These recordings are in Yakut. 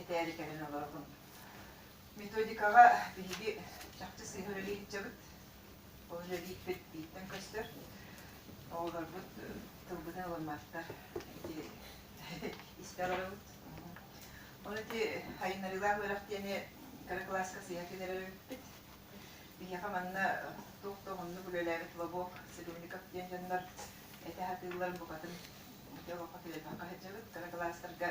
этээри кэлэн олоробун. Методикаҕа биһиги чахчы сыыһа үлэлии илдьэбит. Ол үлэлииппит бииртэн көстөр. Оҕолорбут тылбытын ылымматтар ити истэр орабыт. Ону ити айынарыылаах үөрэх диэни кыра кылааска сыыһа кэлэрбиппит. Биһиэхэ манна туох да уһуннук үлэлээбит Лобок, Садовников диэн дьоннор этэ сатыыллар букатын бөтө олоххо кэлбэххэ сылдьабыт. Кыра кылаастарга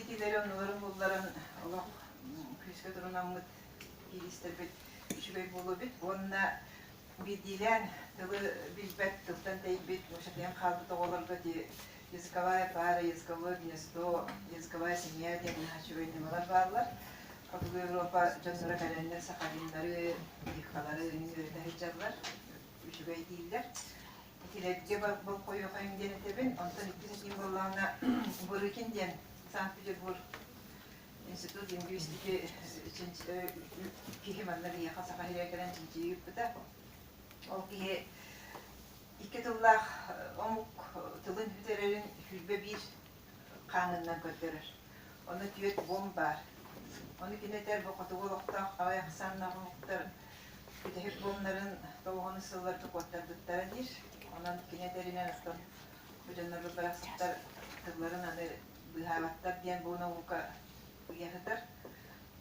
итилэри оннуларын булларан олох күүскэ турунаммыт кииристэрбит үчүгэй буолуо эбит уонна биирдиилээн тылы билбэт тылтан тэйбит мучатыйан хаалбыт оҕолорго дии языковая пара, языковое гнездо, языковая семья диэн үчүгэй ньымалар бааллар. Хотугу Европа дьонноро кэлэннэр сахалиннары, дикалары үҥүөрүтэ сылдьаллар, үчүгэй дииллэр. Итилэргэ болхойуохайым диэн этэбин, онтон иккис этиим буоллаҕына Бырыкин диэн Санкт-Петербург институт лингвистики киһи манна биһиэхэ саха сиригэр кэлэн чинчийии ыыппыта. Ол киһи икки тыллаах омук тылын бүтэрэрин сүүрбэ биир хаанынан көрдөрөр. Ону түөрт буом баар. Ону кини этэр бу хотугу олохтоох аҕай ахсааннаах омуктар бүтэһик буомнарын тоҕуһаны сылларга куоттарбыттара диир. Онон кини этэринэн оттон бу дьоннорбут барахсаттар тылларын аны быыһаабаттар диэн бу наука ыйа сытар.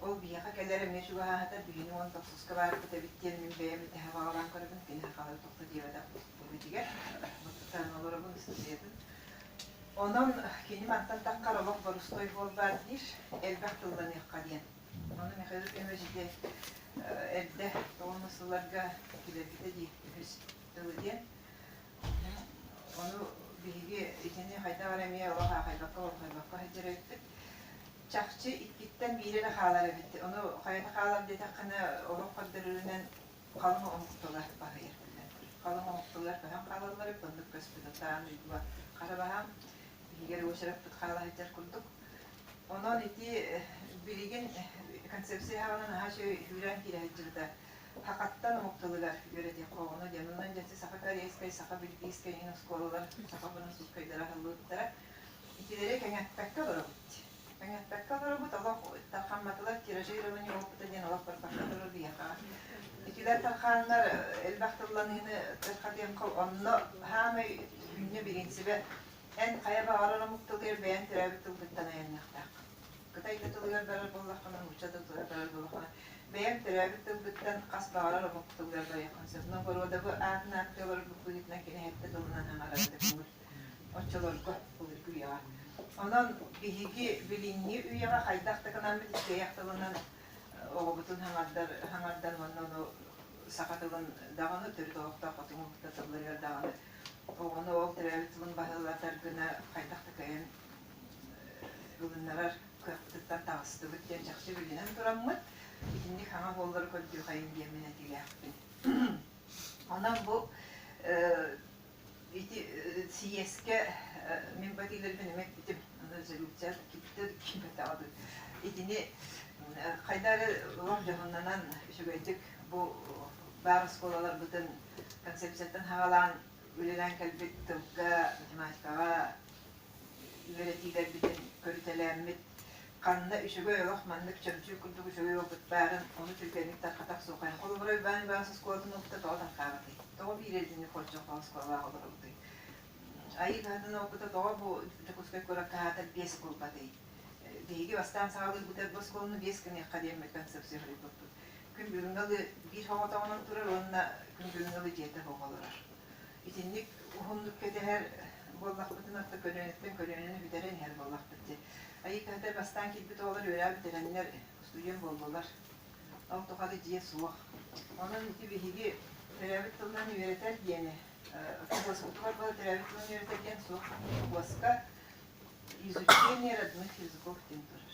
Ол биһиэхэ кэлэр эмиэ чугаһаатар биһини уон тохсуска баарбыт эбит диэн мин бэйэм этэһэ баҕалаан көрөбүн, кини сахалыы тохто диэбэтэх эбитигэр. Бу тутаан олоробун, ыстатыйатын Онон кини мантан таххар олох борустуой буолбат диир, элбэх тылланыахха диэн. Ону Михаил Ильич диэн эрдэ уонна сылларга килэргитэ дии үһүс тылы диэн. Ону биһиги итини хайдах эрэ эмиэ олох аахайбакка, олохойбокко сылдьар эбиппит. Чахчы иккиттэн биири эрэ хаалар эбит. Ону хайата хаалар диэтэххинэ, олох көрдөрөрүнэн Халыҥ оҥоһукталар баһыйардылар. Халыҥ оҥоһукталар баһан хаалаллар, быннык көспүтүн дьула хара баһаам иһигэр уочараппыт хаала сылдьар курдук. Онон ити билигин концепция хаҕынан наһаа үчүгэй үүрээн киирэ сылдьыбыта. Хакаттан омук тылыгар үөрэтиэххэ оҕону дьон онон дьэччи саха корейскай, саха бельгийскай иһин оскуолалар саха бырассууккайдара аһыллыбыттара. Итилэри кэҥэппэккэ олоробут. Таҥастарга олоробут, олох тархамматылар тиражирование опыта диэн олох барбакка турар биһиэхэ. Итилэр тархааннар элбэх тылланыыны тархатыан онно саамай сүүннэ бириинсибэ эн хайа баҕарар омук тылыгар бэйэн төрөөбүт тылгыттан айанныахтаах. Кытай да тылыгар барар буоллаххына, нуучча да тылыгар барар буоллаххына, бэйэм төрөөбүт тылбыттан хас баҕарар омук тылыгар барыаххын сөп. Но боруодабы аатын ааттыы олорорбут быһыытынан кини сэттэ тылынан аҥаратык оччолорго былыргы үйэҕэ. Онон биһиги билиҥҥи үйэҕэ хайдах да гынаммыт иккиэйэх тылынан оҕобутун хаҥардар хаҥардан уонна ону саха тылын даҕаны төрүт олохтоох хотуҥу кытта тылларыгар даҕаны оҕону ол төрөөбүт тылын баһылатар гына хайдах да кыайан ылыннарар кыахпытыттан таҕыстыбыт диэн чахчы билинэн тураммыт. Итинник хаҥа буоллары көрдүөхэйин диэммин этиилээхпин. Онон бу Ити съезкэ мин бу этиилэрбин эмэ эппитим резолюция кипте кимпетаҕа итини хайда эрэ олох дьоһуннанан үчүгэйдик бу баар оскуолаларбытын концепцияттан хаҕалаан үлэлээн кэлбит тылга математикаҕа үөрэтиилэрбитин көрүтэлээммит. Ханна үчүгэй олох маннык чөмчүүк курдук үчүгэй уолбут баарын, ону түргэнник тарҕатар суохайын. Холобура, Уйбаан Уйбаанас оскуолатын уолута тоҕо тарҕаабытый? Тоҕо биир илдьини хордьоххо оскуолаҕа олоробутуй? Айыы кыһатын оҕукута тоҕо бу Дьокуускай куорат хаһаатар биэс кулбатый? Биһиги бастаан саҕалыы бытар бу оскуоланы биэс гыныахха диэммит концепция хоруйбуппут. Күн бүгүҥҥэ ылы биир хоҕотоҕунан турар уонна күн бүгүҥҥэ ылы дьиэтэ буола олорор. итинник уһуннук кэтэһэр буоллахпытына, то көлүөнэттэн көлүөнэни бүтэрэн иһэр буоллахпыт дии. Айыы кыһата бастаан киирбит оҕолор үөрээ бүтэрэннэр устуйуон буоллулар. Ол тухары дьиэ суох. Онон биһиги төрөөбүт тылынан үөрэтэр диэни, освободскутугар бала төрөөбүт тылынан үөрэтэр диэн суох. Освободска изучение родных языков диэн турар.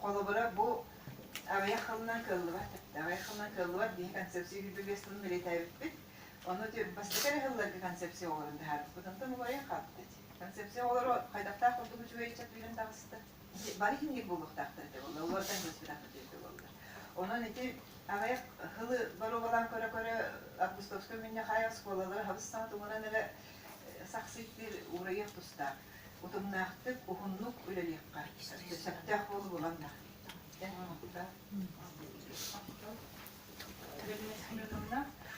Холобура, бу аҕыйах хонунан кыаллыбат, аҕыйах хонунан кыаллыбат диэки концепция библиотекатын үлэтээбиппит. Ону бастакы эрэ сылларга концепция оҕолорун таһаарбыппыт. Онтон убайа хаппыт. Концепция оҕолоро хайдахтаах курдук үчүгэй ыччат билэн таҕыста. Бары иһин биир буолуохтаахтар этэ буолла. Олортон быспытахпыт диэки буоллулар. Онон ити аҕыйах хылы боруобалаан көрө-көрө августовскай мунньах аайы оскуолалар хабыс саҥа тумуран эрэ сахсыйдыыр уурайыах тустаах. утумнаахтык, уһуннук үлэлиэххэ сөптөөх буолу буланна.